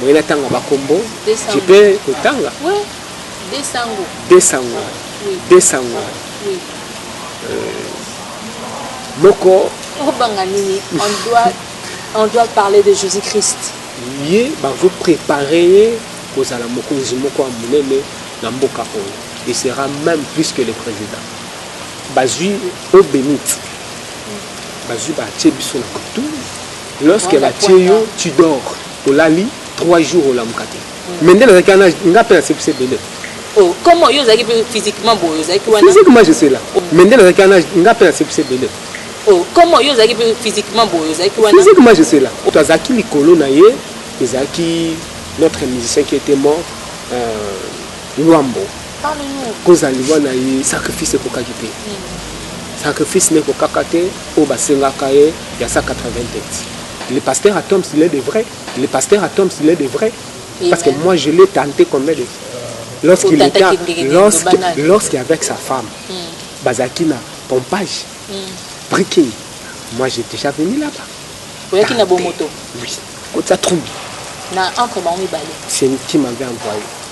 Boye na tanga ba kombo. Je peux ko tanga? Oui. Desango. Desango. Oui. Desango. Oui. Euh, moko. Obanga nini? On doit on doit parler de Jésus-Christ. Ye ba vous préparer kozala mokonzi moko ya monene na mboka oyo. Il sera même plus que le président. Bazui au bénite. Bazui ba tiebiso na kutu. Lorsque ba tie yo tu dors olali trois jours olamuka te mais nde nazalaki wana nga mpe nasepisi ebele Oh, comment yo ozalaki mpe physiquement boye ozalaki wana physiquement je suis là mais nde nazalaki wana nga mpe nasepisi ebele Oh, comment yo ozalaki mpe physiquement boye ozalaki wana physiquement je suis là to azalaki likolo na ye ezalaki notre musicien qui était mort euh, luambo kozala liwa na ye sacrifice ekokaki te sacrifice ne ekokaka te oyo basengaka ye ya 180 le pasteur atoms il est de vrai le pasteur atoms il est de vrai parce que moi je l'ai tenté combien de lorsqu'il était lorsque lorsque avec sa femme hmm. bazalaki na pompage hmm. briquet moi j'ai déjà venu là-bas oyaki na bomoto oui kotisa trouble na entre bango mibale c'est qui m'avait envoyé